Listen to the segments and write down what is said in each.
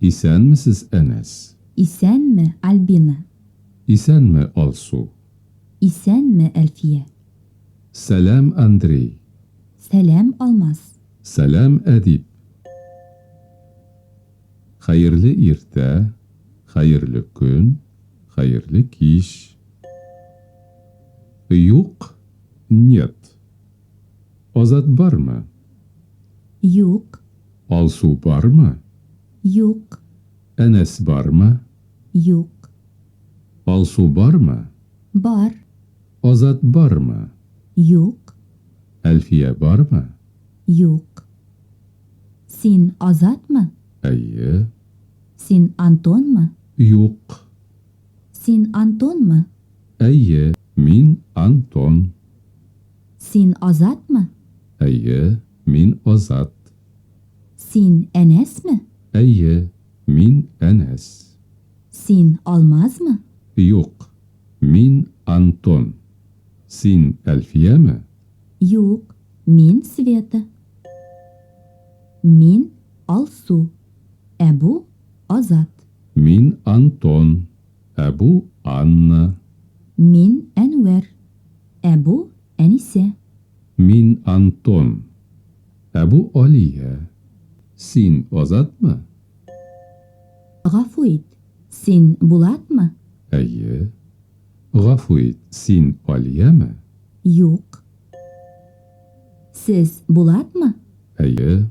Исәнмесез, Әнәс! Исәнме, Альбина! Исәнме, Алсу! Исәнме, Әлфия! Сәлам, Андрей! Сәлам, Алмаз! Сәлам, Әдип! Хәерле иртә, хәерле көн, хәерле кич. Юк, нет. Азат бармы? Юк. Алсу бармы? Юк. Әнәс бармы? Юк. Алсу бармы? Бар. Азат бармы? Юк. Әлфия бармы? Юк. Син Азатмы? Әйе. Син Антонмы? Юк. Син Антонмы? Әйе, мин Антон. Син Азатмы? Әйе, мин Азат. Син Әнәсме? Әйе, мин Әнәс. Син Алмазмы? Юк, мин Антон. Син Әлфияме? Юк, мин Света. Мин Алсу. Ә бу, Азат. Мин, Антон. Ә бу, Анна. Мин, Әнвәр. Ә бу, Әнисә. Мин, Антон. Ә бу, Алия. Син, Азатмы? Гафу ит, син, Булатмы? Әйе. Гафу ит, син, Алиямы? Юк. Сез, Булатмы? Әйе.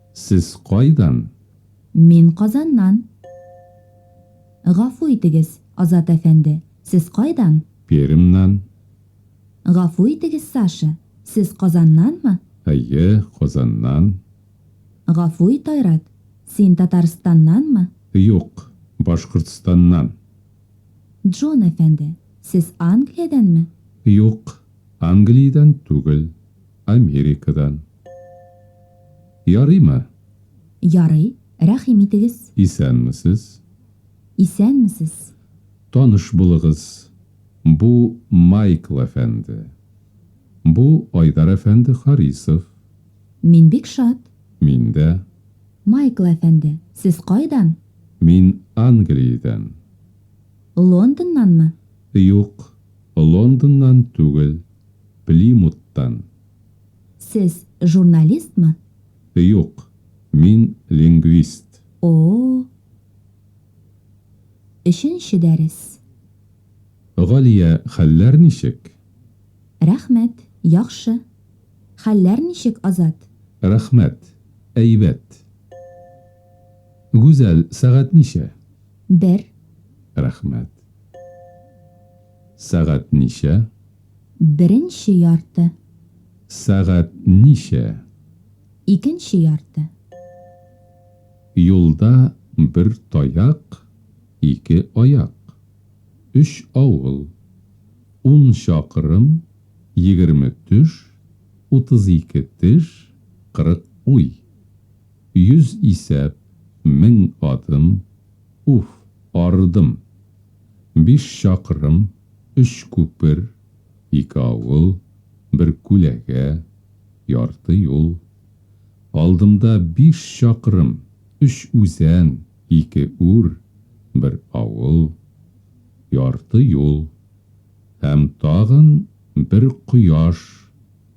Сез кайдан? Мин Казаннан. Гафу итегез, Азат әфәнде, сез кайдан? Пермьнан. Гафу итегез, Саша, сез Казаннанмы? Әйе, Казаннан. Гафу ит, Айрат, син Татарстаннанмы? Юк, Башкортстаннан. Джон әфәнде, сез Англиядәнме? Юк, Англиядән түгел. Америкадан. Ярыймы? Ярый, рәхим итегез. Исәнмесез. Исәнмесез. Таныш булыгыз, бу Майкл әфәнде. Бу Айдар әфәнде Харисов. Мин бик шат. Мин дә. Майкл әфәнде, сез кайдан? Мин Англиядән. Лондоннанмы? Юк, Лондоннан түгел. Плимуттан. Сез журналистмы? Юк, мин лингвист. О-о-о! Өченче дәрес. Галия, хәлләр ничек? Рәхмәт, яхшы. Хәлләр ничек, Азат? Рәхмәт, әйбәт. Гүзәл, сәгать ничә? Бер. Рәхмәт. Сәгать ничә? Беренче ярты. Сәгать ничә? Икенче ярты. Юлда бер таяк, ике аяк. Өч авыл. Ун чакрым, егерме төш, утыз ике теш, кырык уй. Йөз исәп, мең адым, уф, арыдым. Биш чакрым, өч күпер, ике авыл, бер күләгә, ярты юл. Алдымда биш чакрым, өч үзән, ике үр, бер авыл, ярты юл. Һәм тагын бер кояш,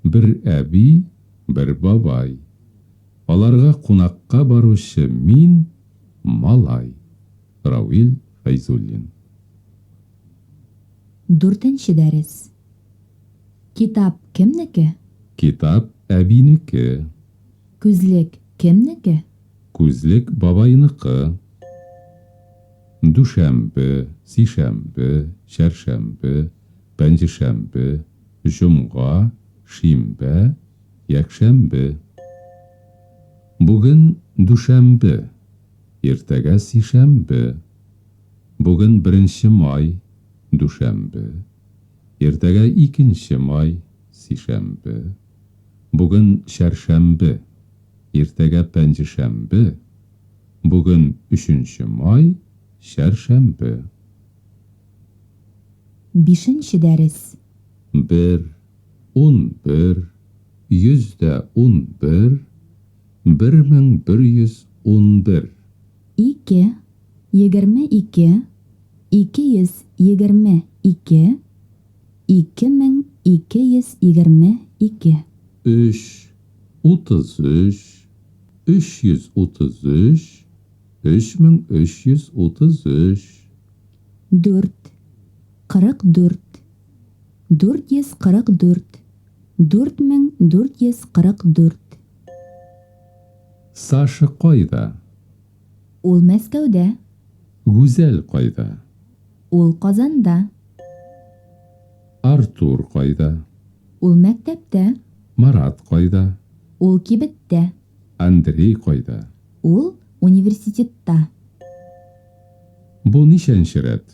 бер әби, бер бабай. Аларга кунакка баручы мин, малай. Равил Фәйзуллин. Дүртенче дәрес. Китап кемнеке? Китап әбинеке. Күзлек кемнеке? Күзлек бабайныкы. Дүшәмбе, сишәмбе, чәршәмбе, пәнҗешәмбе, җомга, шимбә, якшәмбе. Бүген дүшәмбе. Иртәгә сишәмбе. Бүген беренче май, дүшәмбе. Иртәгә икенче май, сишәмбе. Бүген чәршәмбе. Иртәгә пәнҗешәмбе. Бүген өченче май, чәршәмбе. Бишенче дәрес. Бер, унбер, йөз дә унбер, 1111. Ике, егерме ике, ике йөз егерме ике, ике мең ике йөз егерме ике. Өч, утыз өч, өч йөз утыз өч, өч мең өч йөз утыз өч. Дүрт, кырык дүрт, 444 4444 Саша кайда? Ул Мәскәүдә. Гүзәл кайда? Ул Казанда. Артур кайда? Ул мәктәптә. Марат кайда? Ул кибеттә. Андрей кайда? Ул университетта. Бу ничәнче рәт?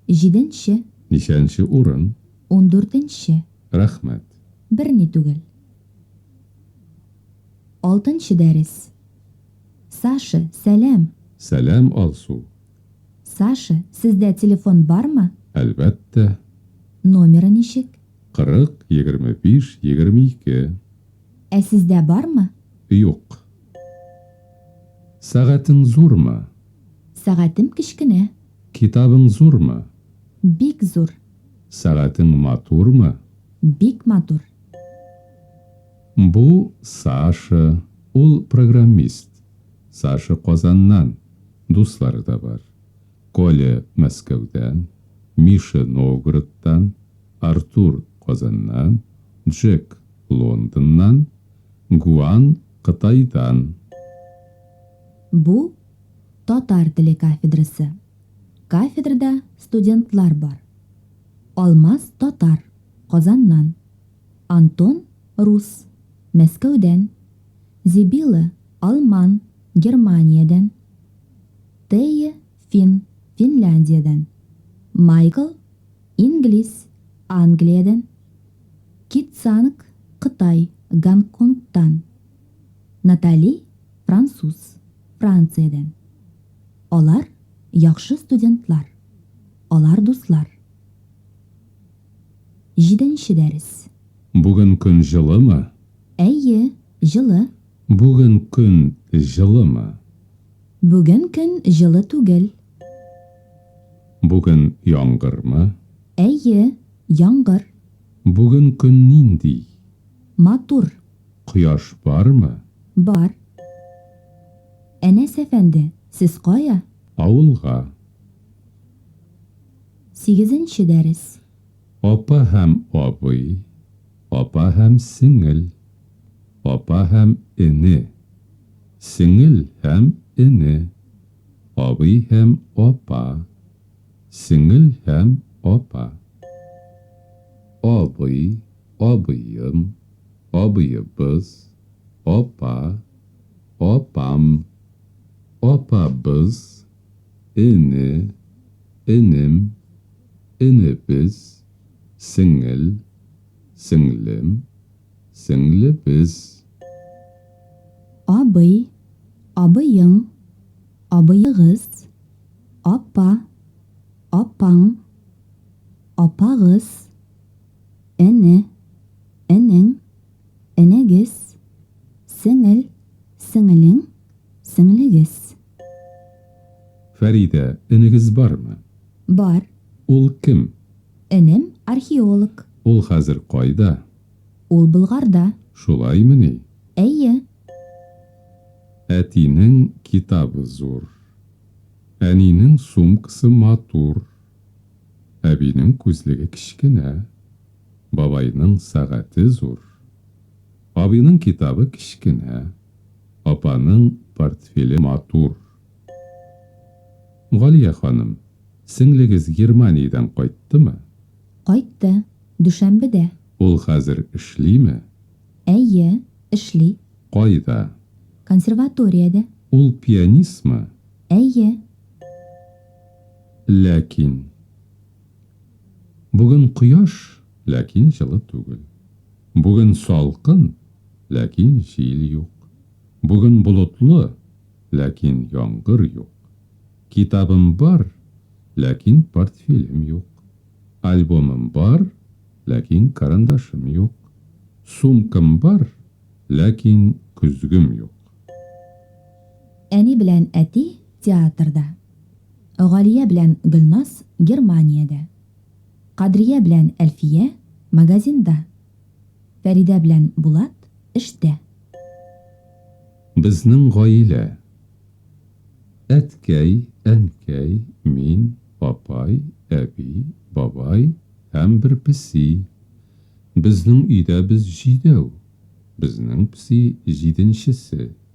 Җиденче. Ничәнче урын? Ундүртенче. Рәхмәт. Берни түгел. Алтынчы дәрес. Саша, сәлам! Сәлам, Алсу! Саша, сездә телефон бармы? Әлбәттә. Номеры ничек? Кырык, егерме биш, егерме ике. Ә сездә бармы? Юк. Сәгатең зурмы? Сәгатем кечкенә. Китабың зурмы? Бик зур. Сәгатең матурмы? Бик матур. Бу, Саша, ул программист. Саша Казаннан, дуслары да бар. Коля, Мәскәүдән, Миша, Новгородтан, Артур, Казаннан, Джек, Лондоннан, Гуан, Кытайдан. Бу, татар теле кафедрасы. Кафедрада студентлар бар. Алмаз, татар, Казаннан. Антон, рус, Мәскәүдән. Зибила, алман, Германиядән. Тея, фин, Финляндиядән. Майкл, инглиз, Англиядән. Китсанг, кытай, Гонконгтан. Натали, Француз, Франциядән. Алар, яхшы студентлар. Алар дуслар. Җиденче дәрес. Бүген көн җылымы? Әйе, җылы. Бүген көн җылымы? Бүген көн җылы түгел. Бүген яңгырмы? Әйе, яңгыр. Бүген көн нинди? Матур. Кояш бармы? Бар. Әнәс әфәнде, сез кая? Авылга. Сигезенче дәрес. Апа һәм абый, апа һәм сеңел, апа һәм эне, сеңел һәм эне, абый һәм апа, сеңел һәм апа. Абый. абыем, абыебыз, апа, апам, апабыз, эне, энем, энебез, сеңел, сеңлем, сеңлебез. Абый, абыең, абыегыз, апа, апаң, апагыз. Әнә, энең, энегез, сеңел, сеңелең, сеңлегез. Фәридә, энегез бармы? Бар. Ул кем? Энем, археолог. Ул хәзер кайда? Ул Болгарда. Шулаймыни? Әйе. Әтинең китабы зур. Әнинең сумкасы матур. Әбинең күзлеге кечкенә, бабайның сәгате зур, абыйның китабы кечкенә, апаның портфеле матур. Галия ханым, сеңлегез Германиядән кайттымы? Кайтты, дүшәмбедә. Ул хәзер эшлиме? Әйе, эшли. Кайда? Консерваториядә. Ул пианистмы? Әйе. Ләкин. Бүген кояш, ләкин җылы түгел. Бүген салкын, ләкин җил юк. Бүген болытлы, ләкин яңгыр юк. Китабым бар, ләкин портфелем юк. Альбомым бар, ләкин карандашым юк. Сумкам бар, ләкин көзгем юк. Әни белән әти театрда. Галия белән Гөлназ Германиядә. Кадрия белән Әлфия магазинда. Фәридә белән Булат эштә. Безнең гаилә. Әткәй, әнкәй, мин, апай, әби, бабай һәм бер песи. Безнең өйдә без җидәү. Безнең песи җиденчесе.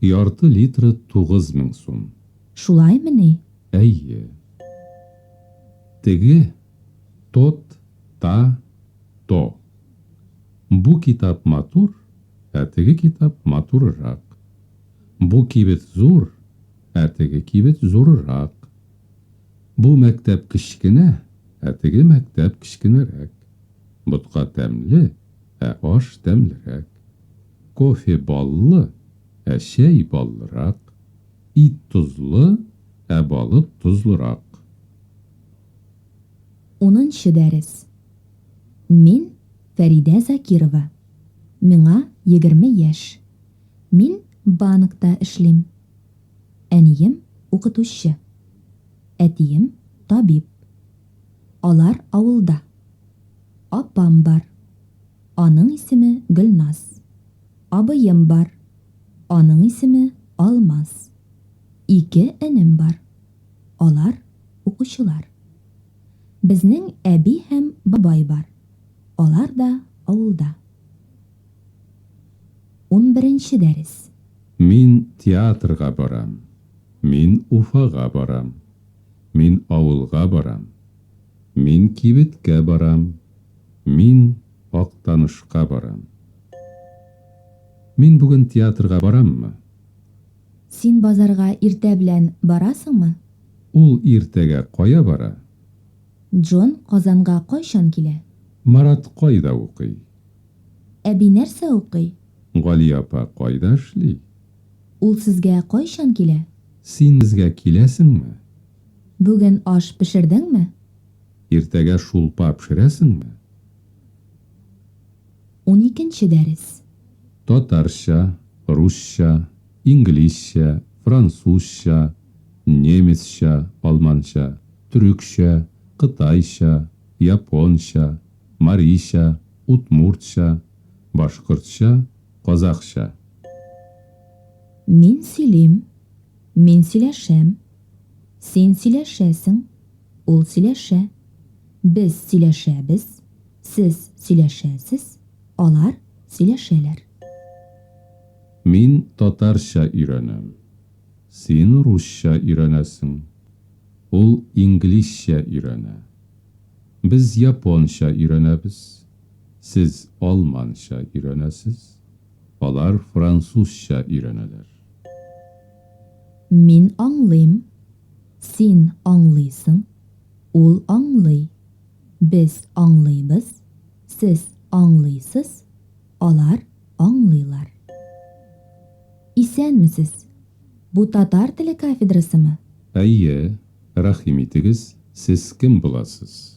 Ярты литры тугыз мең сум. Шулаймыни? Әйе. Теге, тот, та, то. Бу китап матур, ә теге китап матурырак. Бу кибет зур, ә теге кибет зурырак. Бу мәктәп кечкенә, ә теге мәктәп кечкенәрәк. Ботка тәмле. ә аш тәмлерәк. Кофе баллы, ә чәй баллырак. Ит тозлы, ә балык тозлырак. Унынчы дәрес. Мин, Фәридә Закирова. Миңа егерме яшь. Мин банкта эшлим. Әнием, укытучы. Әтием, табиб. Алар авылда. Апам бар. Аның исеме Гөлназ. Абыем бар. Аның исеме Алмаз. Ике энем бар. Алар, укучылар. Безнең әби һәм бабай бар. Алар да авылда. Унберенче дәрес. Мин театрга барам. Мин Уфага барам. Мин авылга барам. Мин кибеткә барам. Мин Актанышка барам. Мин бүген театрга бараммы? Син базарга иртә белән барасыңмы? Ул иртәгә кая бара? Джон Казанга кайчан килә? Марат кайда укый? Әби нәрсә укый? Гали апа кайда эшли? Ул сезгә кайчан килә? Син безгә киләсеңме? Бүген аш пешердеңме? Иртәгә шулпа пешерәсеңме? Уникенче дәрес. Татарча, русча, инглизчә, французча, немецча, алманча, төрекчә, кытайча, японча, марийча, удмуртча, башкортча, Казахча. Мин сөйлим. Мин сөйләшәм. Син сөйләшәсең. Ул сөйләшә. Без сөйләшәбез. Сез сөйләшәсез. Алар сөйләшәләр. Мин татарча өйрәнәм. Син русча өйрәнәсең. Ул инглизчә өйрәнә. Без японча өйрәнәбез. Сез алманча өйрәнәсез, алар французча өйрәнәләр. Мин аңлыйм, син аңлыйсың, ул аңлый, без аңлыйбыз, сез аңлыйсыз, алар аңлыйлар. Исәнмесез! Бу татар теле кафедрасымы? Әйе, рәхим итегез, сез кем буласыз?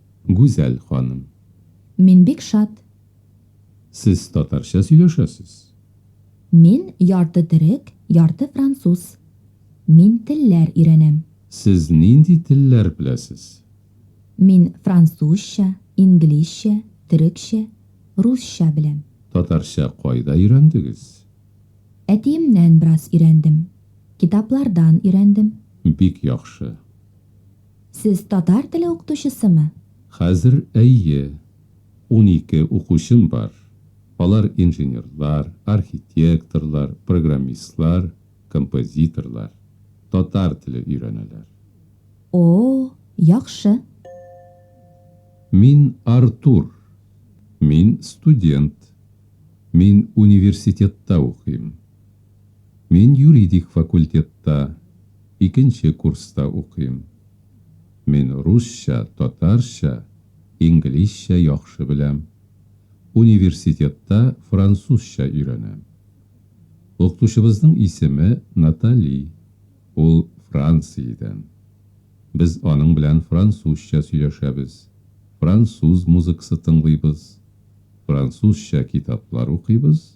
Гүзәл ханым. Мин бик шат. Сез татарча сөйләшәсез? Мин ярты төрек, ярты француз. Мин телләр өйрәнәм. Сез нинди телләр беләсез? Мин французча, инглизчә, төрекчә, русча беләм. Татарча кайда өйрәндегез? Әтиемнән бераз өйрәндем. Китаплардан өйрәндем. Бик яхшы. Сез татар теле укытучысымы? Хәзер, әйе. Унике укучым бар. Алар инженерлар, архитекторлар, программистлар, композиторлар. Татар теле өйрәнәләр. О-о, яхшы. Мин Артур. Мин студент. Мин университетта укыйм. Мин юридик факультетта икенче курста укыйм. Мин русча, татарча, инглизчә яхшы беләм. Университетта французча өйрәнәм. Укытучыбызның исеме Натали, ул Франциядән. Без аның белән французча сөйләшәбез, француз музыкасы тыңлыйбыз, французча китаплар укыйбыз.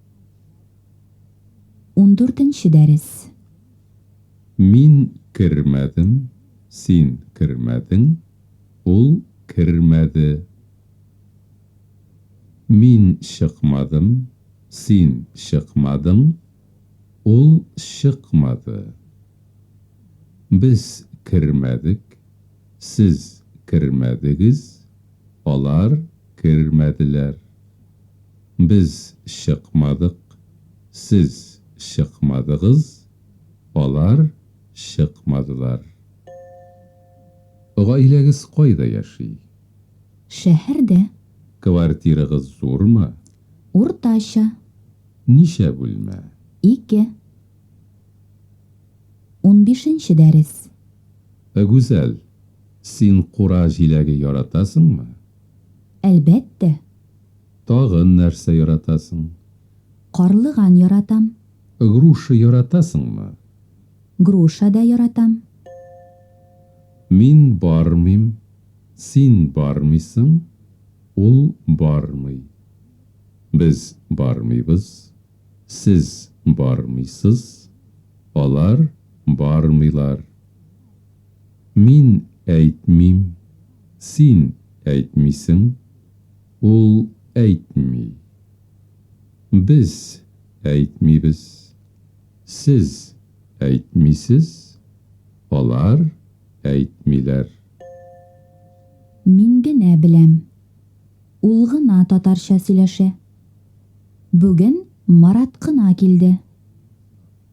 Ундүртенче дәрес. Мин кермәдем, син кермәдең, ул кермәде. Мин чыкмадым, син чыкмадың, ул чыкмады. Без кермәдек, сез кермәдегез, алар кермәделәр. Без чыкмадык, сез чыкмадыгыз, алар чыкмадылар. Гаиләгез кайда яши? Шәһәрдә. Квартирагыз зурмы? Уртача. Ничә бүлмә? Ике. Унбишенче дәрес. Гүзәл, син кура җиләге яратасыңмы? Әлбәттә! Тагын нәрсә яратасың? Карлыган яратам. Груша яратасыңмы? Груша да яратам. Мин бармыйм, син бармыйсың, ул бармый. Без бармыйбыз, Сез бармыйсыз, алар бармыйлар. Мин әйтмим, син әйтмисең, ул әйтми. Без әйтмибез. Сез әйтмисез, алар әйтмиләр. Мин генә беләм. Ул гына татарча сөйләшә. Бүген Марат кына килде.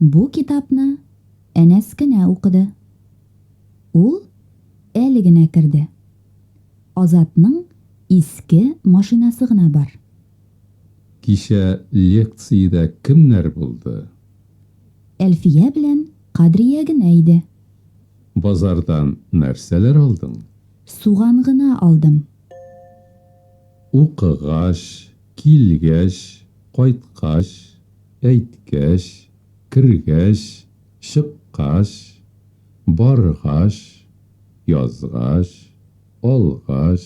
Бу китапны Әнәс кенә укыды. Ул әле генә керде. Азатның иске машинасы гына бар. Кичә лекциядә кемнәр булды? Әлфия белән Кадрия генә иде. Базардан нәрсәләр алдың? Суган гына алдым. Укыгач, килгәч, кайткач, әйткәч, кергәч, чыккач, баргач, язгач, алгач,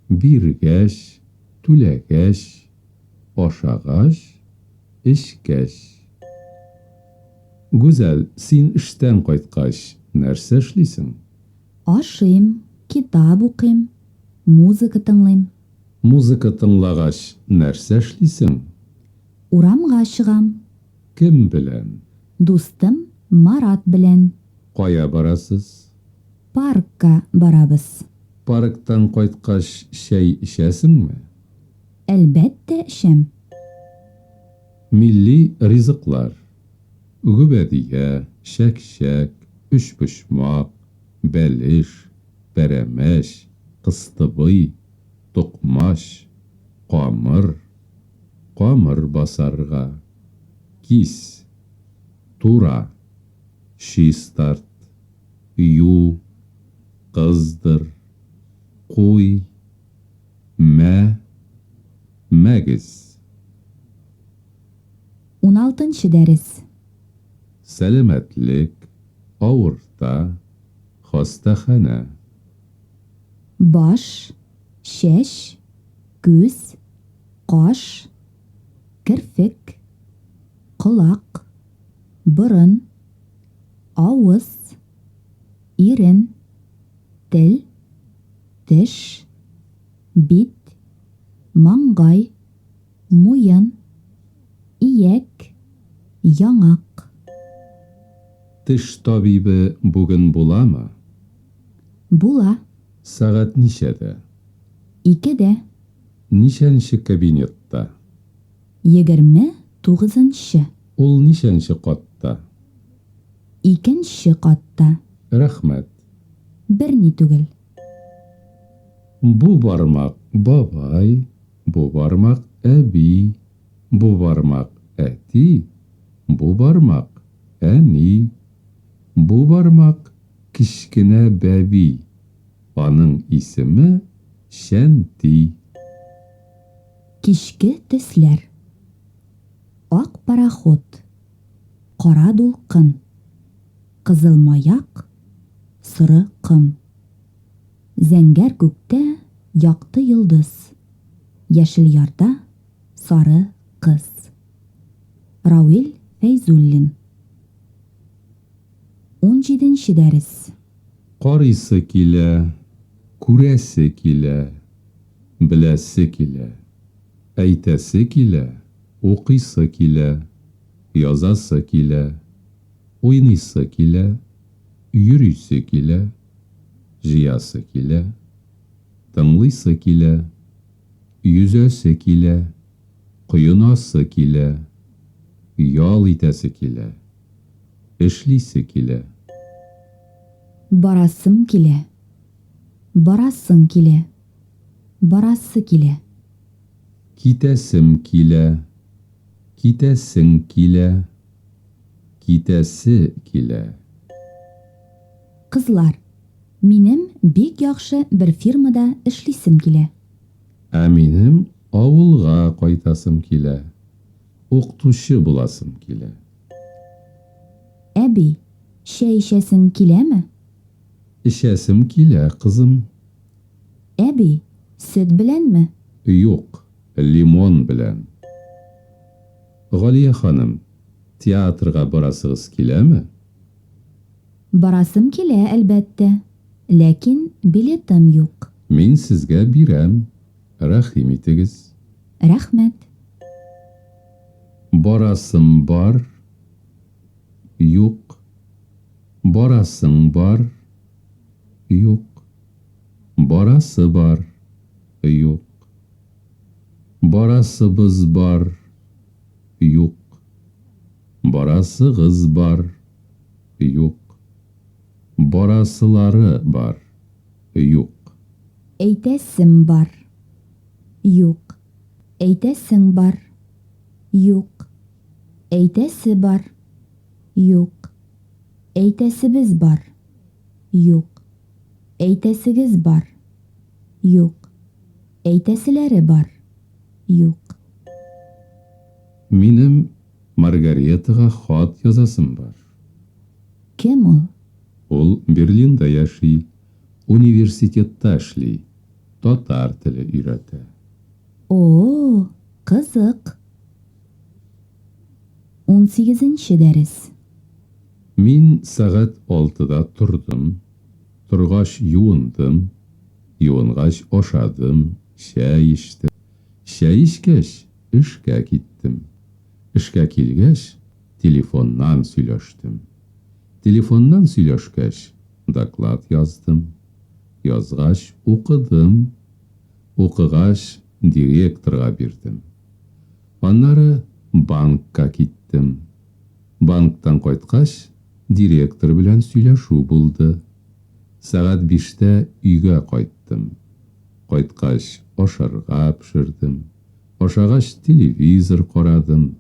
биргәч, түләгәч, ашагач, эчкәч. Гүзәл, син эштән кайткач нәрсә эшлисең? Ашыйм, китап укыйм, музыка тыңлыйм. Музыка тыңлагач, нәрсә эшлисең? Урамга чыгам. Кем белән? Дустым Марат белән. Кая барасыз? Паркка барабыз. Парктан кайткач, чәй эчәсеңме? Әлбәттә эчәм. Милли ризыклар. Гөбәдия, чәкчәк, өчпочмак, бәлеш, пәрәмәч, кыстыбый, токмач, камыр, камыр басарга, кис, тура, чистарт, ю, кыздыр, куй, мә, мәгез. Уналтынчы дәрес. Сәламәтлек, авырта, хастаханә. Баш, чәч, күз, каш, керфек, колак, борын, авыз, ирен, тел, теш, бит, маңгай, Муен, ияк, яңак. Теш табибы бүген буламы? Була. Сәгать ничәдә? Икедә. Ничәнче кабинетта? Егерме тугызынчы. Ул ничәнче катта? Икенче катта. Рәхмәт. Берни түгел. Бу бармак бабай. Бу бармак, әби, бу бармак, әти, бу бармак, әни, бу бармак, кечкенә бәби, аның исеме, Шәнти. Кичке төсләр. Ак пароход. Кара дулкын. Кызыл маяк. Соры ком. Зәңгәр күктә якты йолдыз, Яшел ярда сары кыз. Рауил Фәйзуллин Унҗиденче дәрес. Карыйсы килә, күрәсе килә, беләсе килә, әйтәсе килә, укыйсы килә, язасы килә, уйныйсы килә, йөрисе килә, Җыясы килә, тыңлыйсы килә, йөзәсе килә, коенасы килә, ял итәсе килә, эшлисе килә. Барасым килә, барасың килә, барасы килә. Китәсем килә, китәсең килә, китәсе килә. Кызлар, минем бик яхшы бер фирмада эшлисем килә. Ә минем авылга кайтасым килә, укытучы буласым килә. Әби, чәй эчәсең киләме? Эчәсем килә, кызым. Әби, сөт беләнме? Юк, лимон белән. Галия ханым, театрга барасыгыз киләме? Барасым килә, әлбәттә. Ләкин билетым юк. Мин сезгә бирәм, рәхим итегез. Рәхмәт. Барасым бар. Юк. Барасың бар. Юк. Барасы бар. Юк. Барасыбыз бар. Юк. Барасыгыз бар. Юк. Барасылары бар. Юк. Әйтәсем бар. Юк. Әйтәсең бар. Юк. Әйтәсе бар. Юк. Әйтәсебез бар. Юк. Әйтәсегез бар. Юк. Әйтәселәре бар. Юк. Минем Маргаретага хат язасым бар. Кем ул? Ул Берлинда яши, университетта эшли, татар теле өйрәтә. О-о, кызык. Унсигезенче дәрес. Мин сәгать алтыда тордым, торгач юындым, юынгач ашадым, чәй эчтем. Чәй эчкәч, Эшкә киттем. Эшкә килгәч, телефоннан сөйләштем. Телефоннан сөйләшкәч, доклад яздым. Язгач, укыдым. Укыгач, директорга бирдем. Аннары банкка киттем. Банктан кайткач, директор белән сөйләшү булды. Сәгать биштә өйгә кайттым. Кайткач, ашарга пешердем. Ашагач телевизор карадым,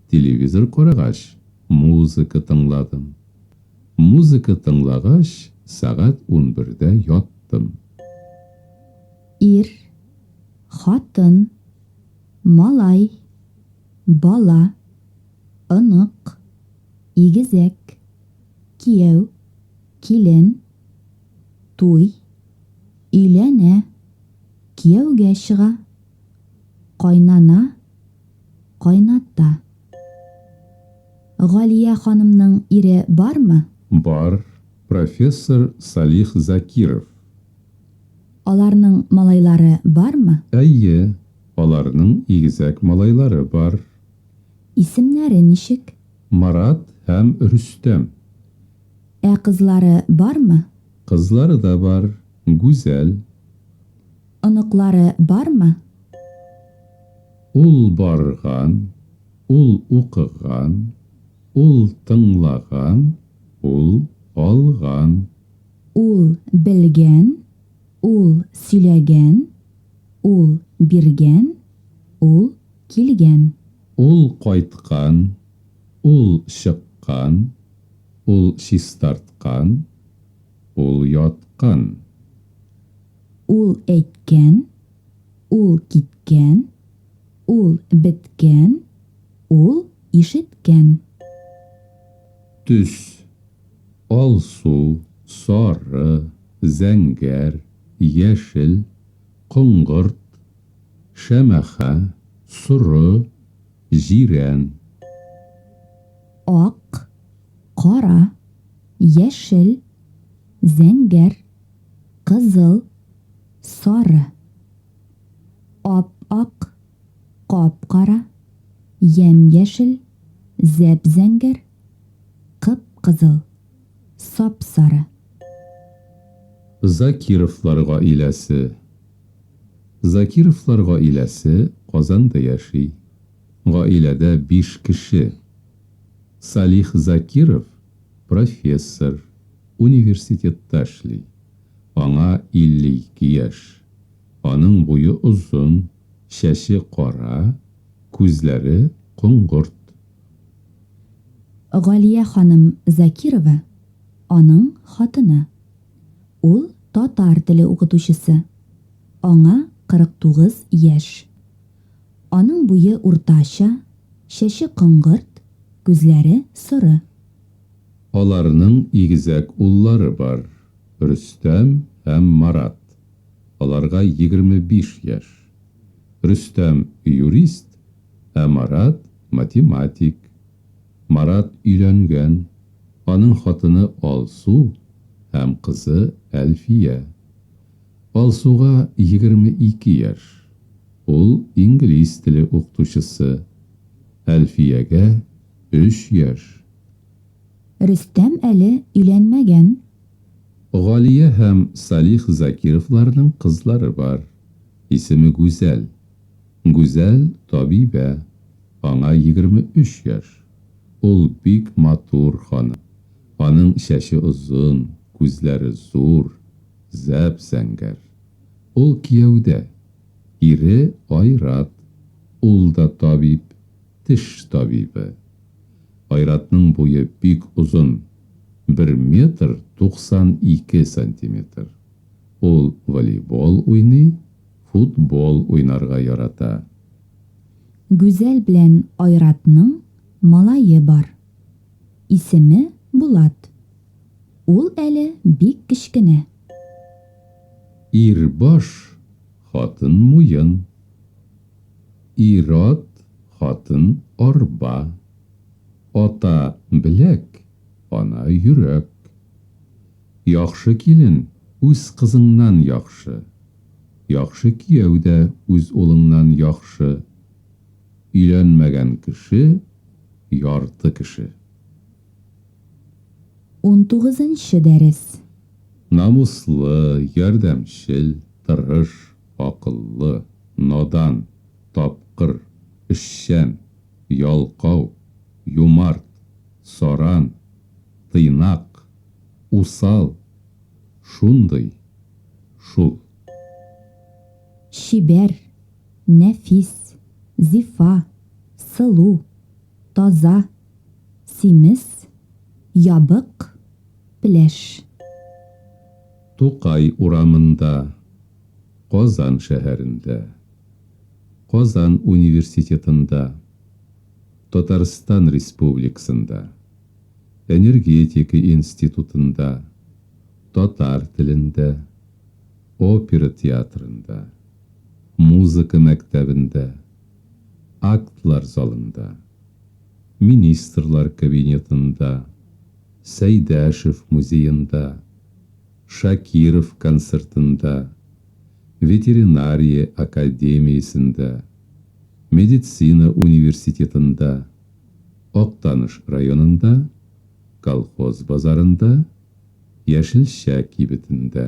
телевизор карагач музыка тыңладым. Музыка тыңлагач сәгать унбердә яттым. Ир, хатын, малай, бала, онык, игезәк, кияү, килен, туй, өйләнә, кияүгә чыга. Кайнана, кайната. Галия ханымның ире бармы? Бар, профессор Салих Закиров. Аларның малайлары бармы? Әйе, аларның игезәк малайлары бар. Исемнәре ничек? Марат һәм Рөстәм. Ә кызлары бармы? Кызлары да бар, Гүзәл. Оныклары бармы? Ул барган, ул укыган, ул тыңлаган, ул алган. Ул белгән, ул сөйләгән, ул биргән, ул килгән. Ул кайткан, ул чыккан, ул чистарткан. Ул яткан. Ул әйткән. Ул киткән. Ул беткән. Ул ишеткән. Төс. Алсу, сары, зәңгәр, яшел, коңгырт, шәмәхә, соры, Җирән. Ак, кара, яшел, зәңгәр, кызыл, сары. Ап-ак, кап-кара, ямь-яшел, зәп-зәңгәр, кып-кызыл, сап-сары. Закировлар гаиләсе. Закировлар гаиләсе Казанда яши. Гаиләдә биш кеше. Салих Закиров, профессор, университетта эшли. Аңа 52 яшь. Аның буе озын, чәче кара, күзләре коңгырт. Галия ханым Закирова, аның хатыны. Ул, татар теле укытучысы. Аңа 49 яшь. Аның буе уртача, чәче коңгырт, күзләре соры. Аларның игезәк уллары бар, Рөстәм һәм Марат. Аларга 25 яшь. Рөстәм, юрист, ә Марат, математик. Марат өйләнгән, аның хатыны Алсу һәм кызы Әлфия. Алсуга егерме ике яшь, ул инглиз теле укытучысы. Әлфиягә өч яшь. Рөстәм әле өйләнмәгән. Галия һәм Салих Закировларның кызлары бар, исеме Гүзәл. Гүзәл табибә, аңа егерме өч яшь. Ул бик матур ханым. Аның чәче озын, күзләре зур, зәп-зәңгәр. Ул кияүдә. Ире, Айрат. Ул да табиб, теш табибы. Айратның буе бик озын, бер метр туксан ике сантиметр. Ул волейбол уйный, Футбол уйнарга ярата. Гүзәл белән Айратның малае бар. Исеме Булат. Ул әле бик кечкенә. Ир баш, хатын муен. Ир-ат, хатын арба. Ата, беләк, ана йөрәк. Яхшы килен үз кызыңнан яхшы. Яхшы кияү дә үз улыңнан яхшы. Өйләнмәгән кеше, ярты кеше. Унтугызынчы дәрес. Намуслы, ярдәмчел, тырыш, акыллы, надан, тапкыр, эшчән, ялкау, юмарт, саран, тыйнак, усал, Шундый шул. Чибәр, нәфис, зифа, сылу, таза, симез, ябык, пләш. Тукай урамында, Казан шәһәрендә, Казан университетында, Татарстан Республиксында. Энергетика институтында, татар телендә, опера театрында, музыка мәктәбендә, актлар залында, министрлар кабинетында, Сәйдәшев музеенда, Шакиров концертында, ветеринария академиясендә, медицина университетында, Актаныш районында, Колхоз базарында, Яшелчә кибетендә.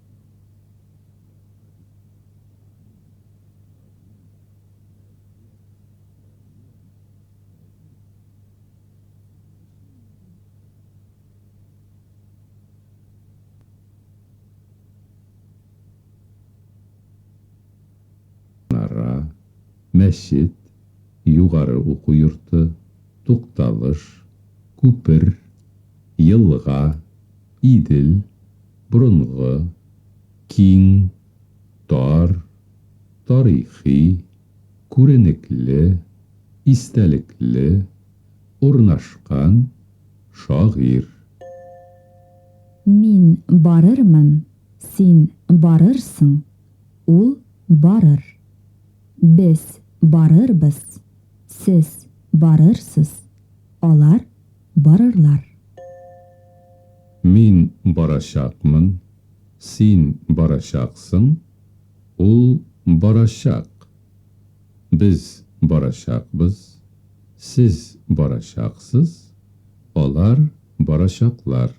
мәчет, югары уку йорты, тукталыш, күпер, елга, Идел, борынгы, киң, тар, тарихи, күренекле, истәлекле, урнашкан, шагыйрь. Мин барырмын, син барырсың, ул барыр. Без барырбыз, сез барырсыз, алар барырлар. Мин барачакмын, син барачаксың, ул барачак, без барачакбыз, сез барачаксыз, алар барачаклар.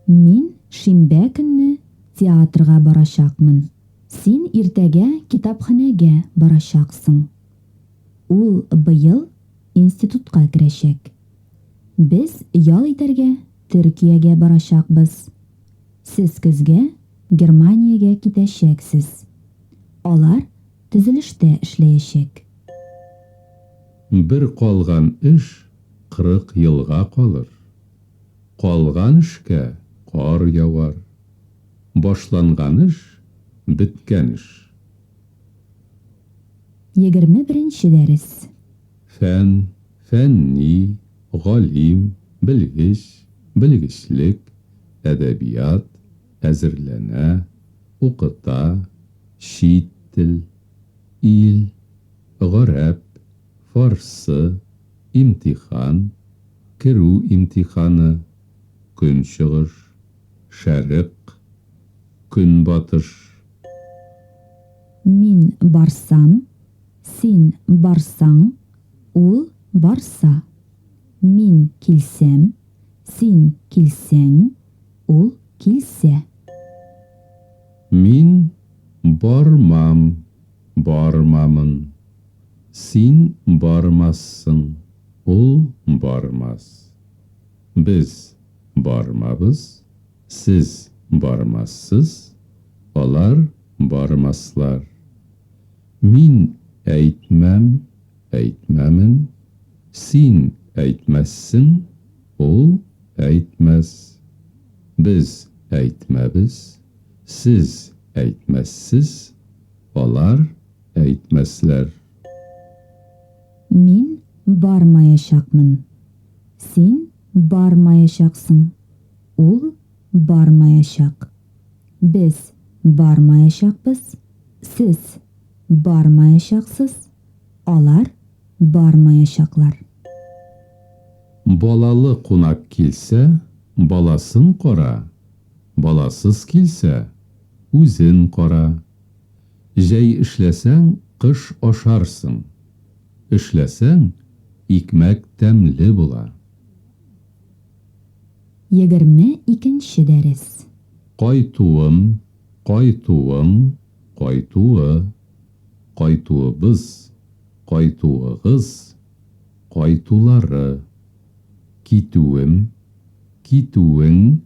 Мин шимбә көнне театрга барачакмын, син иртәгә китапханәгә барачаксың, ул быел институтка керәчәк. Без ял итәргә Төркиягә барачакбыз. Сез көзгә Германиягә китәчәксез. Алар төзелештә эшләячәк. Бер калган эш кырык елга калыр. Калган эшкә кар явар. Башланган эш, беткән эш. Егерме беренче дәрес. Фән, фәнни, галим, белгеч, белгечлек, әдәбият, әзерләнә, укыта, чит тел, ил, гарәп, фарсы, имтихан, керү имтиханы, көнчыгыш. Шәрык, Көнбатыш. Мин барсам, син барсаң, ул барса. Мин килсәм, син килсәң, ул килсә. Мин бармам, бармамын. Син бармассың, ул бармас. Без бармабыз, сез бармассыз, алар бармаслар. Мин әйтмәм, әйтмәмен, син әйтмәссең, ул әйтмәс. Без әйтмәбез, сез әйтмәссез, алар әйтмәсләр. Мин бармаячакмын. Син бармаячаксың. Ул бармаячак. Без бармаячакбыз. Сез бармаячаксыз. Алар бармаячаклар. Балалы кунак килсә, баласын кара, баласыз килсә, үзен кара. Җәй эшләсәң, кыш ашарсың. Эшләсәң, икмәк тәмле була. Егерме икенче дәрес. Кайтуым, кайтуың, кайтуы, кайтуыбыз, кайтуыгыз, кайтулары. Китүем, китүең,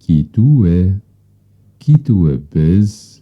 китүе, китүебез.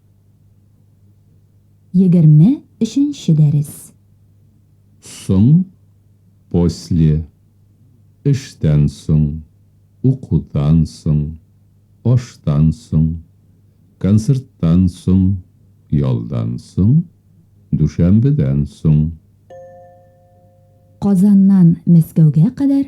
Егерме өченче дәрес. Соң, после, эштән соң, укудан соң, аштан соң, концерттан соң, ялдан соң, дүшәмбедән соң. Казаннан Мәскәүгә кадәр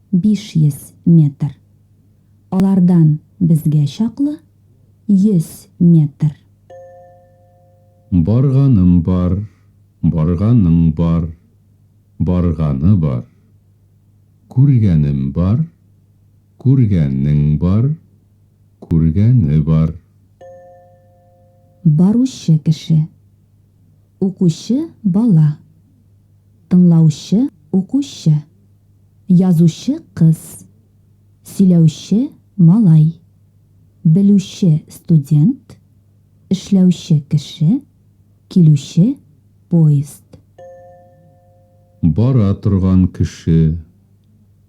500 метр. Алардан безгә чаклы 100 метр. Барганым бар, барганың бар, барганы бар. Күргәнем бар, күргәнең бар, күргәне бар. Баручы кеше. Укучы бала. Тыңлаучы укучы. Язучы кыз. Сөйләүче малай. Белүче студент. Эшләүче кеше. Килүче поезд. Бара торган кеше.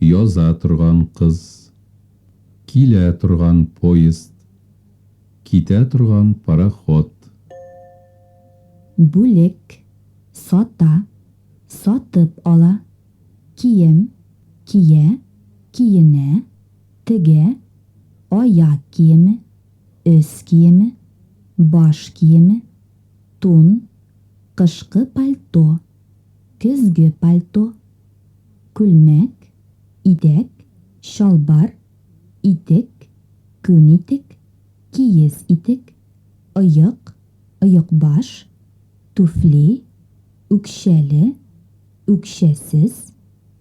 Яза торган кыз. Килә торган поезд. Китә торган пароход. Бүлек. Сата. Сатып ала. кием, кия, киенә, тегә, аяк киеме, өс киеме, баш киеме, тун, кышкы пальто, көзге пальто, күлмәк, итәк, чалбар, итек, күн итек, киез итек, оек, оекбаш, түфли, үкчәле, үкчәсез,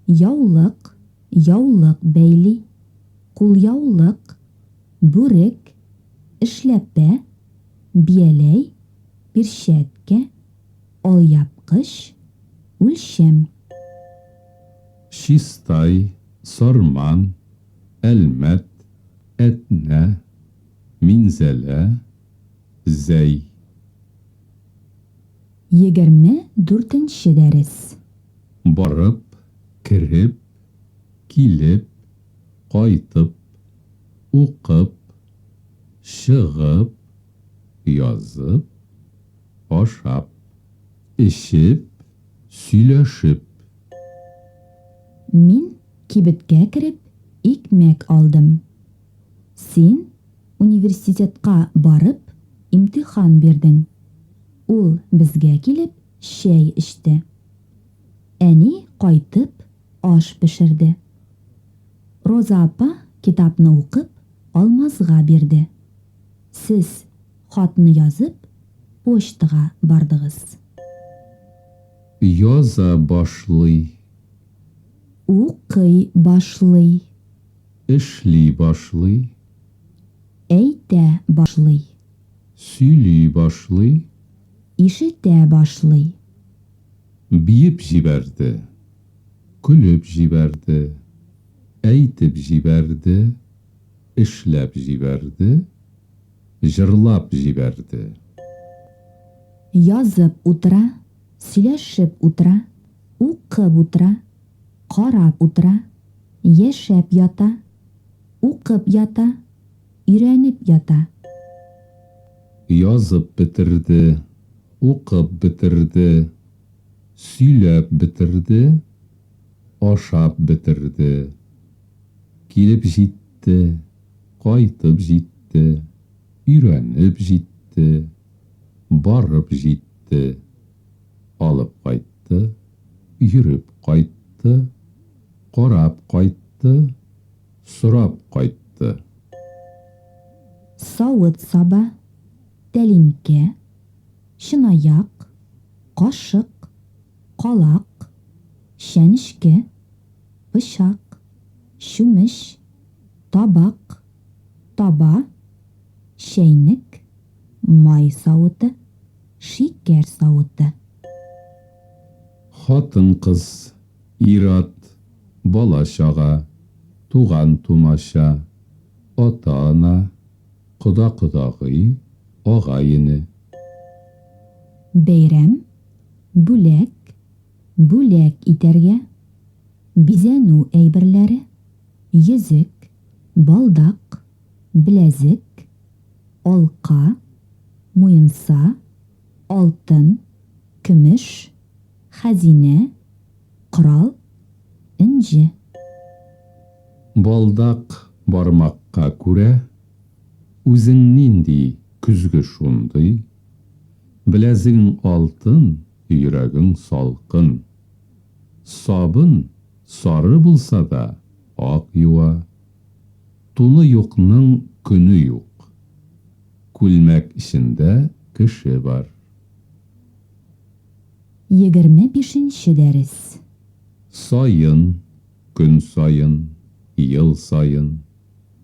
яулык, яулык бәйли, кулъяулык, бүрек, эшләпә, бияләй, пирчәткә, алъяпкыч, үлчәм. Чистай, Сарман, Әлмәт, Әтнә, Минзәлә, Зәй. Егерме дүртенче дәрес. Барып, кереп, килеп, кайтып, укып, чыгып, язып, ашап, эчеп, сөйләшеп. Мин кибеткә кереп, икмәк алдым. Син университетка барып имтихан бирдең. Ул безгә килеп чәй эчте. Әни кайтып аш пешерде. Роза апа китапны укып Алмазга бирде. Сез хатны язып почтага бардыгыз. Яза башлый. Укый башлый. Эшли башлый. Әйтә башлый. Сөйли башлый. Ишетә башлый. Биеп җибәрде. Көлеп җибәрде. Әйтеп җибәрде. Эшләп җибәрде. Җырлап җибәрде. Язып утыра. Сөйләшеп утыра. Укып утыра. Карап утыра, яшәп ята, укып ята, өйрәнеп ята. Язып бетерде, укып бетерде, сөйләп бетерде, ашап бетерде. Килеп җитте, кайтып җитте, өйрәнеп җитте, барып җитте. Алып кайтты, йөреп кайтты, карап кайтты, сорап кайтты. Савыт-саба, тәлинкә, чынаяк, кашык, калак, чәнечке, пычак, чүмеч, табак, таба, чәйнек, май савыты. шикәр савыты. Хатын-кыз, ир-ат, бала-чага, туган-тумача, ата-ана, кода-кодагый, агай-эне. Бәйрәм, бүләк, бүләк итәргә, бизәнү әйберләре, йөзек, балдак, беләзек, алка, муенса, алтын, көмеш, хәзинә, корал, энҗе. Балдак бармакка күрә, үзең нинди, көзге шундый, беләзегең алтын, йөрәгең салкын. Сабын сары булса да, ак юа. Туны юкның көне юк. Күлмәк эчендә кеше бар. Егерме бишенче дәрес. Саен, көн саен, ел саен,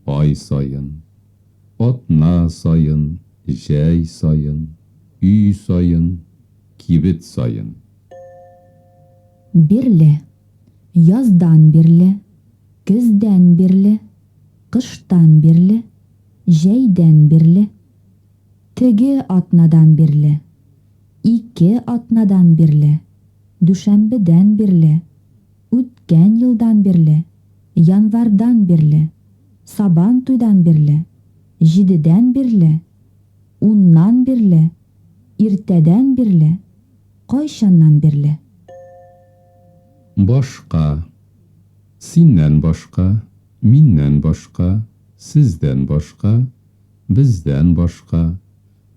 ай саен, атна саен, җәй саен, өй саен, кибет саен. Бирле. Яздан бирле, көздән бирле, кыштан бирле, җәйдән бирле. Теге атнадан бирле, ике атнадан бирле, дүшәмбедән бирле, үткән елдан бирле, январьдан бирле, Сабантуйдан бирле, җидедән бирле, уннан бирле, иртәдән бирле, кайчаннан бирле. Башка. Синнән башка, миннән башка, сездән башка, бездән башка,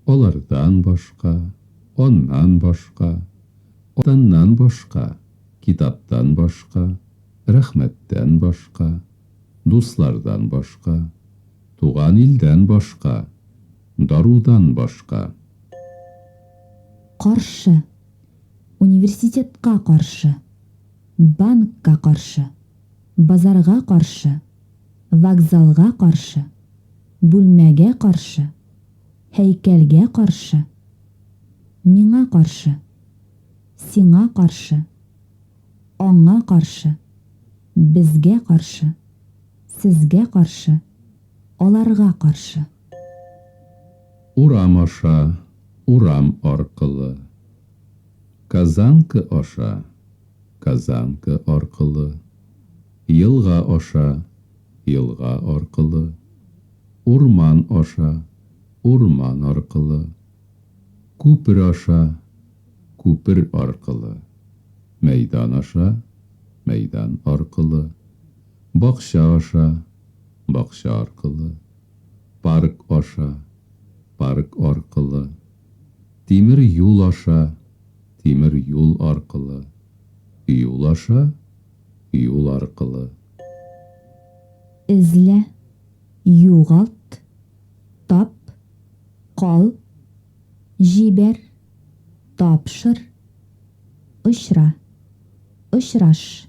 алардан башка, аннан башка, атаннан башка, китаптан башка, рәхмәттән башка, дуслардан башка, туган илдән башка, дарудан башка. Каршы. Университетка каршы, банкка каршы, базарга каршы, вокзалга каршы, бүлмәгә каршы, һәйкәлгә каршы, миңа каршы, сиңа каршы, аңа каршы, безгә каршы, сезгә каршы, аларга каршы. Урам аша, урам аркылы. Казанка аша, казанка аркылы. Елга аша, елга аркылы. Урман аша, урман аркылы. Күпер аша, күпер аркылы. Мәйдан аша, мәйдан аркылы. Бакча аша. бакча аркылы, парк аша, парк аркылы, тимер юл аша, тимер юл аркылы, юл аша, юл аркылы. Эзлә, югалт, тап, кал, җибәр, тапшыр, очра, очраш.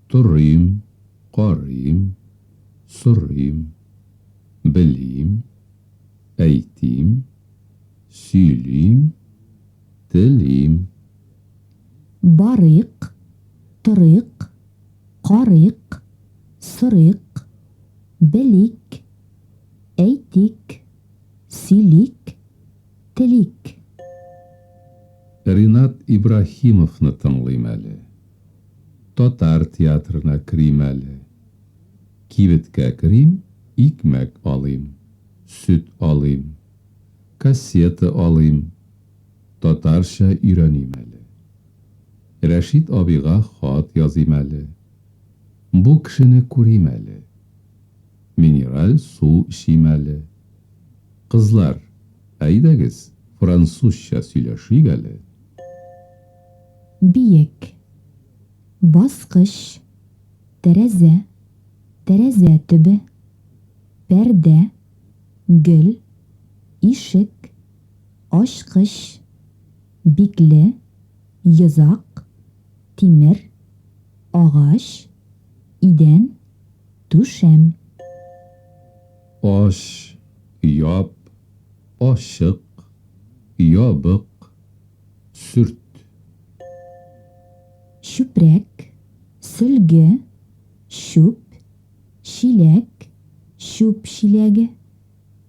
Торыйм, карыйм, сорыйм, белим, әйтим, сөйлим, телим. Барыйк, торыйк, карыйк, сорыйк, белик, әйтик, сөйлик, телик. Ринат Ибраһимовны тыңлыйм әле. Татар театрына керим әле. Кибеткә керим, икмәк алыйм, сөт алыйм, кассета алыйм, татарча өйрәним әле. Рәшит абыйга хат языйм әле. Бу кешене күрим әле. Минераль су эчим әле. Кызлар, әйдәгез, французча сөйләшик әле. биек, баскыч, тәрәзә, тәрәзә төбе, пәрдә, гөл, ишек, ачкыч, бикле, йозак, тимер, агач, идән, түшәм. Ач, яп, ачык, ябык. Сөрт. Чүпрәк, сөлге, чүп, чиләк, чүп чиләге,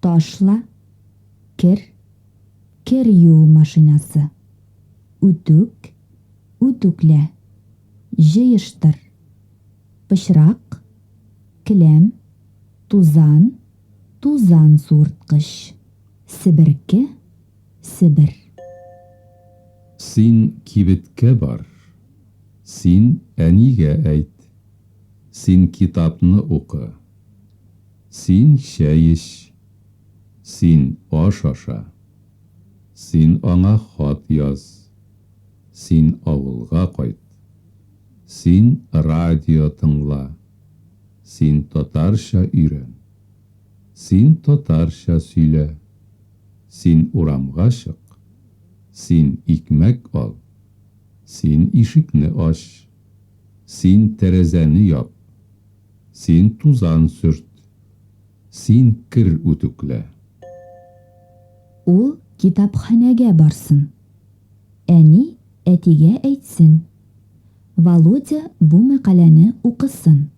ташла, кер, кер юу машинасы, үтүк, үтүклә, җыештыр, пычрак, келәм, тузан, тузан суырткыч, себерке, Себер. Син кибеткә бар. Син әнигә әйт. Син китапны укы. Син чәй эч. Син аш аша. Син аңа хат яз. Син авылга кайт. Син радио тыңла. Син татарча өйрән. Син татарча сөйлә. Син урамга чык. Син икмәк ал. Син ишекне ач. Син тәрәзәне яп. Син тузан сөрт. Син кер үтүклә. Ул китапханәгә барсын. Әни әтигә әйтсен. Володя бу мәкаләне укысын.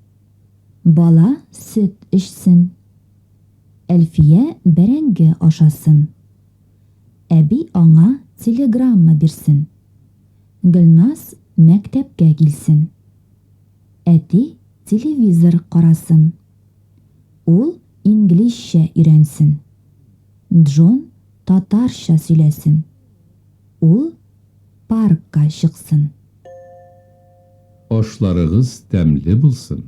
Бала сөт эчсен. Әлфия бәрәңге ашасын. Әби аңа телеграмма бирсен. Гөлназ мәктәпкә килсен. Әти телевизор карасын. Ул инглизчә өйрәнсен. Джон татарча сөйләсен. Ул паркка чыксын. Ашларыгыз тәмле булсын.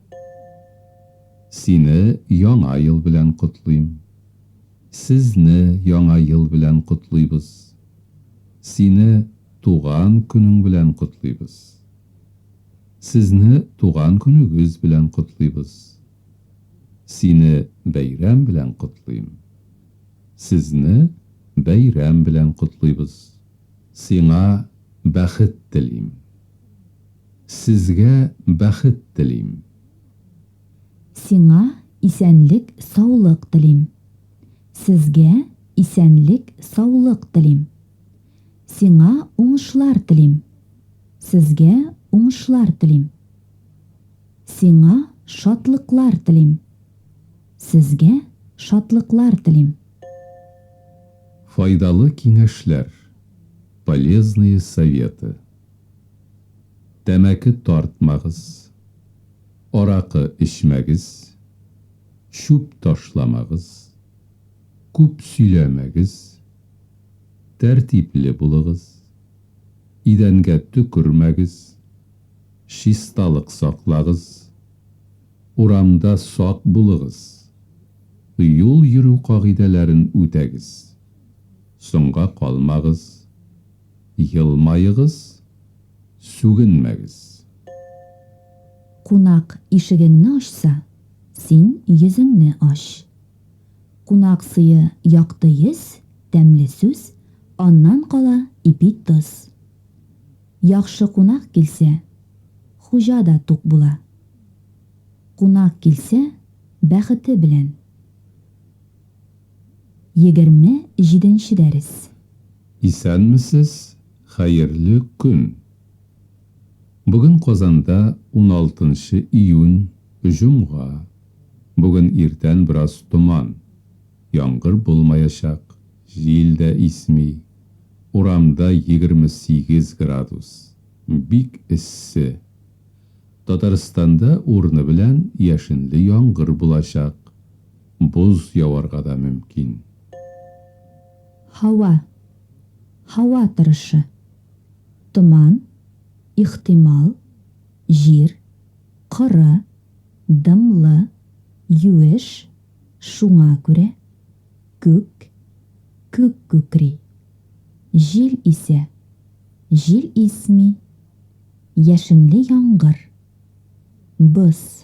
Сине Яңа ел белән котлыйм. Сезне Яңа ел белән котлыйбыз. Сине туган көнең белән котлыйбыз. Сезне туган көнегез белән котлыйбыз. Сине бәйрәм белән котлыйм. Сезне бәйрәм белән котлыйбыз. Сиңа бәхет телим. Сезгә бәхет телим. Сиңа исәнлек саулык телим. Сезгә исәнлек саулык телим. Сиңа уңышлар телим. Сезгә уңышлар телим. Сиңа шатлыклар телим. Сезгә шатлыклар телим. Файдалы киңәшләр, полезные советы. Тәмәке тартмагыз, аракы эчмәгез, чүп ташламагыз, күп сөйләмәгез, тәртипле булыгыз, идәнгә төкермәгез, чисталык саклагыз, урамда сак булыгыз, юл йөрү кагыйдәләрен үтәгез, соңга калмагыз, Елмаегыз, сүгенмәгез. Кунак ишегеңне ачса, син йөзеңне ач. Кунак сые, якты йөз, тәмле сүз, аннан кала ипи тоз. Яхшы кунак килсә, хуҗа да тук була. Кунак килсә, бәхете белән. Егерме җиденче дәрес. Исәнмесез, хәерле көн! Бүген Казанда уналтынчы июнь, җомга. Бүген иртән бераз томан. Яңгыр булмаячак, җил дә исми. Урамда егерме сигез градус. Бик эссе. Татарстанда урыны белән яшенле яңгыр булачак. Боз яварга да мөмкин. Һава Һава торышы Томан, ихтимал, җир, коры, дымлы, юеш, шуңа күрә, күк, күк күкри. Җил исә, җил исми, яшенле яңгыр, боз.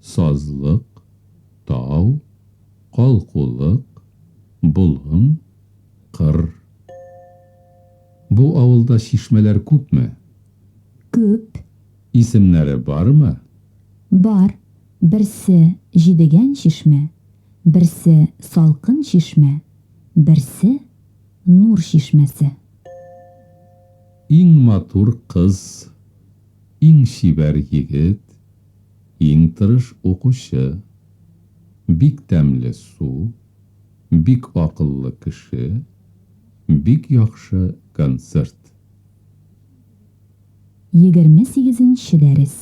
Сазлык, тау, калкулык, болын, кыр. Бу авылда чишмәләр күпме? Күп. Исемнәре бармы? Бар, берсе, Җидегән чишмә, берсе, Салкын чишмә, берсе, Нур чишмәсе. Иң матур кыз, иң чибәр егет. Иң тырыш укучы. Бик тәмле су. Бик акыллы кеше. Бик яхшы концерт. Егерме сигезенче дәрес.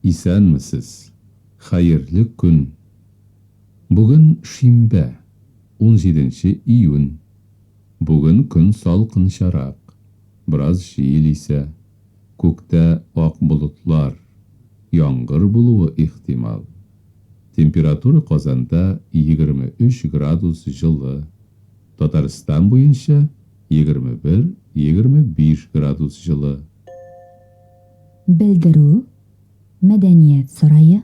Исәнмесез! Хәерле көн! Бүген шимбә, унҗиденче июнь. Бүген көн салкынчарак, бераз җил исә. Күктә ак болытлар, яңгыр булуы ихтимал. Температура Казанда 23 градус җылы, Татарстан буенча 21-25 градус җылы. Белдерү, Мәдәният сарае,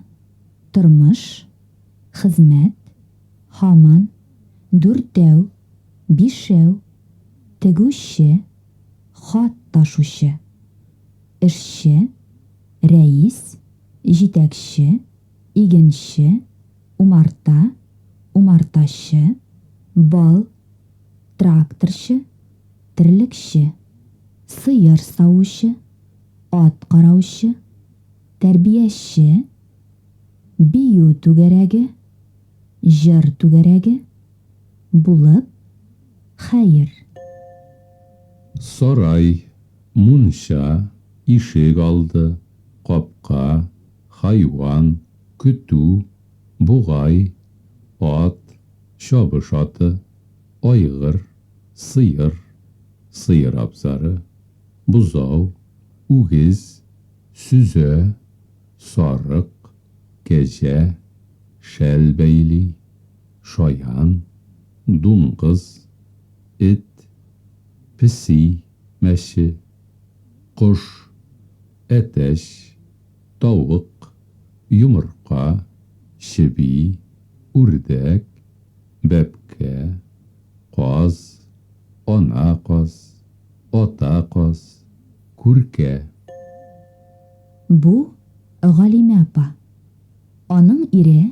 Тормыш, хезмәт, һаман, дүртәү, бишәү, тегүче. хат ташучы, эшче, рәис, җитәкче, игенче, умарта, умартачы, бал, тракторчы, терлекче, сыер савучы, ат караучы, тәрбияче, бию түгәрәге, җыр түгәрәге, булып, Хәер. Сарай, мунча, ишек алды, капка, хайван, көтү, бугай, ат, чабыш аты, айгыр, сыер, сыер абзары, бозау, үгез, сөзә, сарык, кәҗә, шәл бәйли. шаян, дуңгыз, эт, песи, мәче, кош, әтәч, тавык, йомырка, чеби, үрдәк, бәбкә, каз, ана каз, ата каз, күркә. Бу, Галимә апа. Аның ире,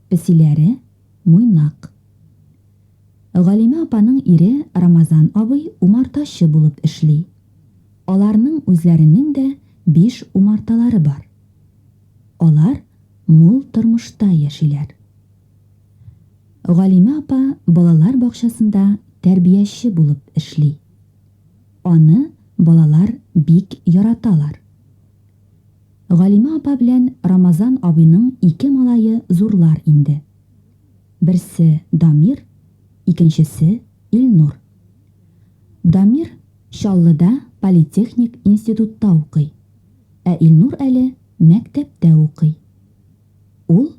Песиләре, Муйнак. Галимә апаның ире Рамазан абый умартачы булып эшли. Аларның үзләренең дә биш умарталары бар. Алар мул тормышта яшиләр. Галимә апа балалар бакчасында тәрбияче булып эшли. Аны балалар бик яраталар. Галимә апа белән Рамазан абыйның ике малае зурлар инде. Берсе, Дамир, икенчесе, Илнур. Дамир Чаллыда политехник институтта укый, ә Илнур әле мәктәптә укый. Ул,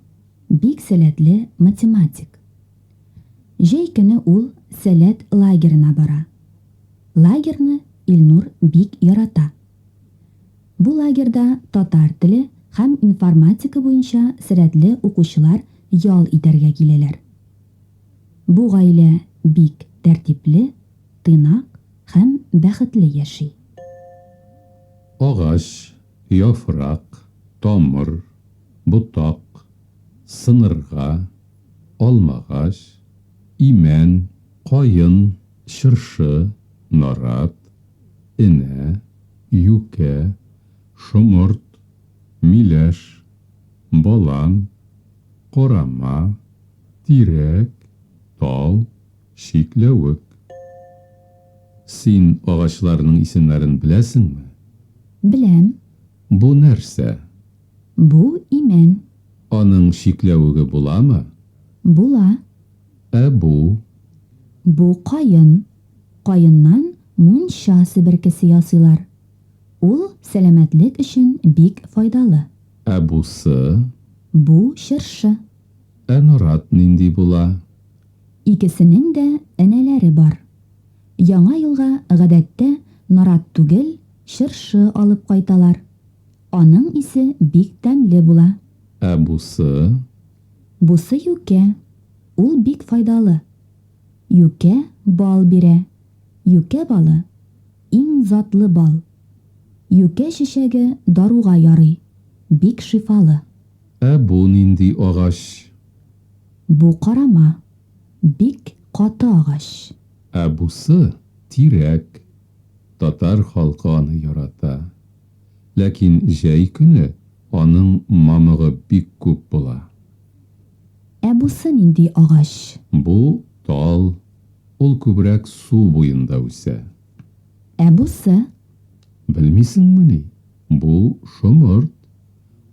бик сәләтле математик. Җәй көне ул Сәләт лагерена бара. Лагерьны Илнур бик ярата. Бу лагерьда татар теле һәм информатика буенча срәдле укучылар ял итәргә киләләр. Бу гаилә бик тәртипле, тыйнак һәм бәхетле яши. Агач, яфрак, тамыр, ботак, сынырга, алмагач, имән, каен, чыршы, нарат, энә, юкә, шомырт, миләш, балан, карама, тирәк, тал, чикләвек. Син агачларның исемнәрен беләсеңме? Беләм. Бу нәрсә? Бу имән. Аның чикләвеге буламы? Була. Ә бу? Бу каен. Каеннан мунча себеркесе ясыйлар. Ул сәламәтлек өчен бик файдалы. Ә бусы? Бу чыршы. Ә нарат нинди була? Икесенең дә энәләре бар. Яңа елга гадәттә нарат түгел, чыршы алып кайталар. Аның исе бик тәмле була. Ә бусы? Бусы юкә. Ул бик файдалы. Юкә бал бирә. Юкә балы, иң затлы бал. Юкә чәчәге даруга ярый, бик шифалы. Ә бу нинди агач? Бу карама, бик каты агач. Ә бусы, тирәк. Татар халкы аны ярата. Ләкин җәй көне аның мамыгы бик күп була. Ә бусы нинди агач? Бу, тал, ул күбрәк су буенда үсә. Ә бусы? Белмисеңмени? Бу, шомырт,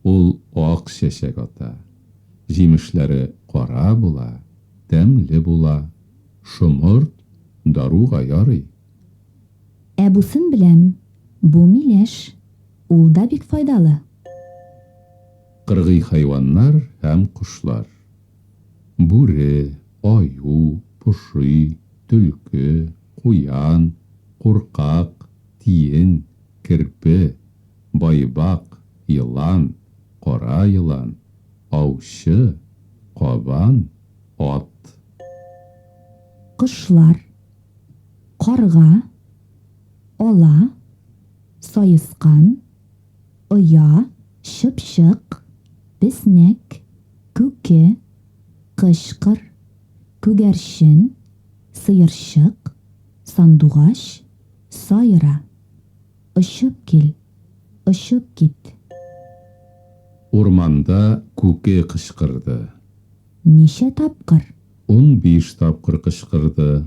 ул ак чәчәк ата. Җимешләре кара була, тәмле була. Шомырт, даруга ярый. Ә бусын беләм, бу миләш, ул да бик файдалы. Кыргый хайваннар һәм кошлар. Бүре, аю, поши, төлке, куян, куркак, тиен, керпе, байбак, елан, кара елан, аучы, кабан, ат. Кошлар. Карга, ала, саескан. Оя, чыпчык, песнәк, күке, кычкыр, күгәрчен, сыерчык, сандугач, сайра. Очып кил, очып кит. Урманда күке кычкырды. Ничә тапкыр? Унбиш тапкыр кычкырды.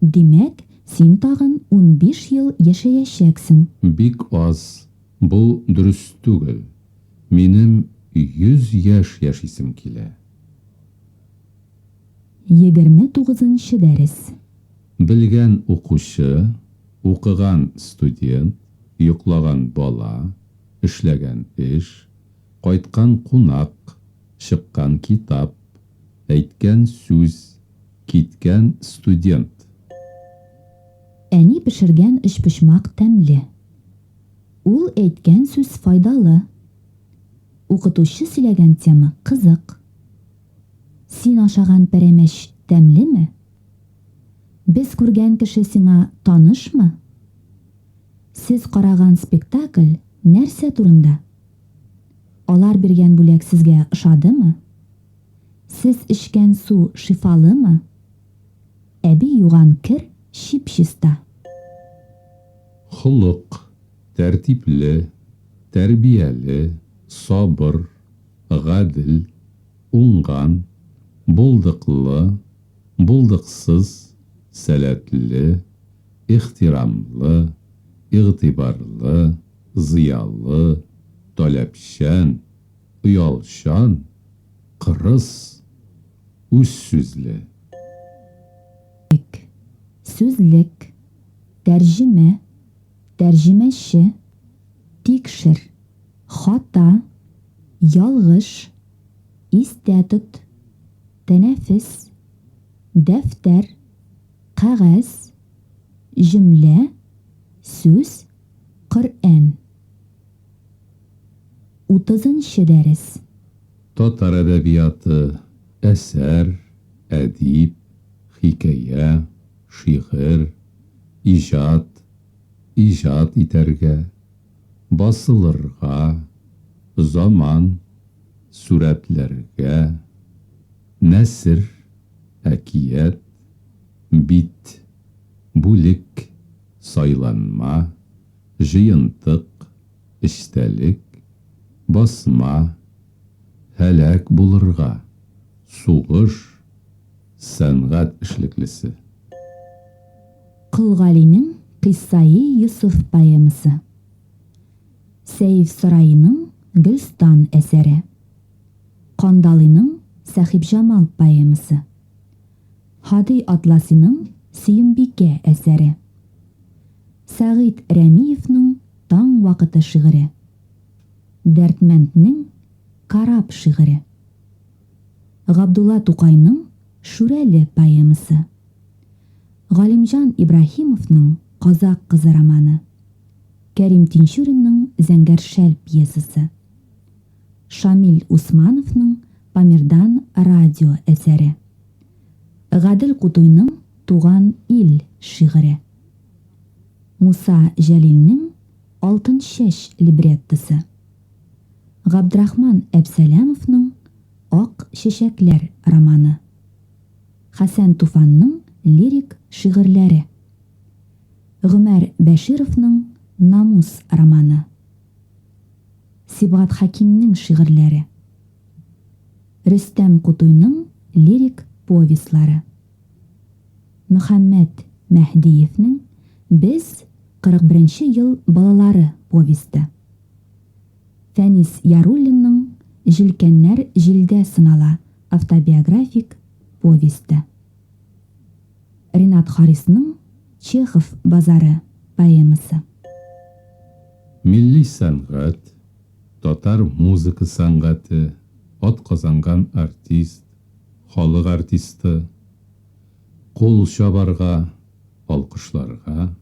Димәк, син тагын унбиш ел яшәячәксең. Бик аз, бу дөрес түгел. Минем йөз яшь яшисем килә. Егерме тугызынчы дәрес. Белгән укучы, укыган студент, йоклаган бала, эшләгән эш, кайткан кунак, чыккан китап, әйткән сүз, Киткән студент. Әни пешергән өчпочмак тәмле. Ул әйткән сүз файдалы. Укытучы сөйләгән тема кызык. Син ашаган пәрәмәч тәмлеме? Без күргән кеше сиңа танышмы? Сез караган спектакль нәрсә турында? Алар биргән бүләк сезгә ошадымы? Сез эчкән су шифалымы? Әби юган кер чип-чиста. Холык, тәртипле, тәрбияле, сабыр, гадел, уңган, булдыклы, булдыксыз, сәләтле, ихтирамлы, игътибарлы, зыялы, таләпчән, Оялчан, кырыс, үз сүзле. Ик. Сүзлек, тәрҗемә, тәрҗемәче, тикшер, хата, ялгыш, истә тот, тәнәфес, дәфтәр, кәгазь, җөмлә, сүз, Коръән. Утызынчы дәрес. Татар әдәбияты, әсәр, әдип, хикәя, шигырь, иҗат, иҗат итәргә, басылырга, заман, сүрәтләргә, нәсер, әкият, бит, бүлек, сайланма, җыентык, эчтәлек, басма, һәлак булырга, сугыш, сәнгать эшлеклесе. Колгалинең Кыйссаи Йосыф поэмасы. Сәефсараиның Гөлстан әсәре. Кандалыйның Сәхибҗамал поэмасы. Һади Атласиның Сөембикә әсәре. Сәгыйть Рәмиевның Таң вакыты шигыре. Дәрдмәнднең Карап шигыре. Габдулла Тукайның Шүрәле поэмасы. Галимҗан Ибраһимовның Казак кызы романы. Кәрим Тинчуринның Зәңгәр шәл пьесасы. Шамил Усмановның Памирдан радио әсәре. Гадел Кутуйның Туган ил шигыре. Муса Җәлилнең Алтын чәч либреттосы. Габдрахман Әпсәләмовның Ак чәчәкләр романы. Хәсән Туфанның лирик шигырьләре. Гомәр Бәшировның Намус романы. Сибгат Хәкимнең шигырьләре. Рөстәм Кутуйның лирик повестьлары. Мөхәммәт Мәһдиевнең Без, 41 нче ел балалары повесте. Фәнис Яруллинның Җилкәннәр җилдә сынала автобиографик повесте. Ренат Харисның Чехов базары поэмасы. Милли сәнгать, татар музыка сәнгате, атказанган артист, Халык артисты, кул чабарга, алкышларга,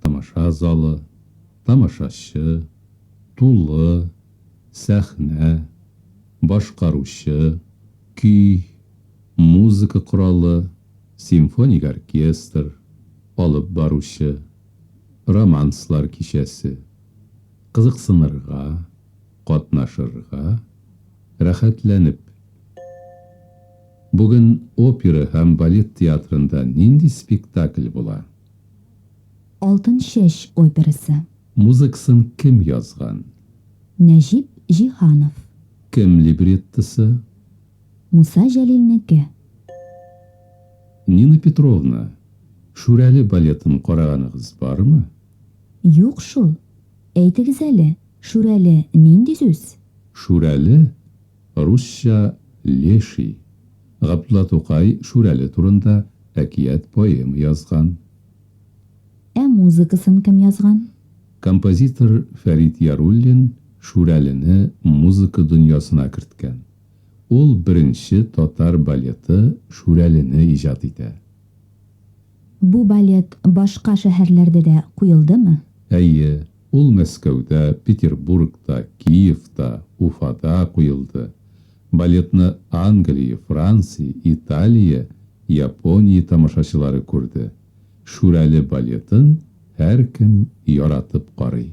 тамаша залы, тамашачы, тулы, сәхнә, башкаручы, көй, музыка коралы, симфоник оркестр, алып баручы, романслар кичәсе. Кызыксынырга, катнашырга, рәхәтләнеп. Бүген опера һәм балет театрында нинди спектакль була? Алтын чәч операсы. Музыкасын кем язган? Нәҗип Җиһанов. Кем либреттосы? Муса Җәлилнеке. Нина Петровна, Шүрәле балетын караганыгыз бармы? Юк шул. Әйтегез әле, Шүрәле нинди сүз? Шүрәле, Русча, Леший. Габдулла Тукай Шүрәле турында әкият-поэма язган. Ә музыкасын кем язган? Композитор Фәрит Яруллин Шүрәлене музыка дөньясына керткән. Ул беренче татар балеты Шүрәлене иҗат итә. Бу балет башка шәһәрләрдә дә куелдымы? Әйе. Ул Мәскәүдә, Петербургта, Киевта, Уфада куелды. Балетны Англия, Франция, Италия, Япония тамашачылары күрде. Шүрәле балетын һәркем яратып карый.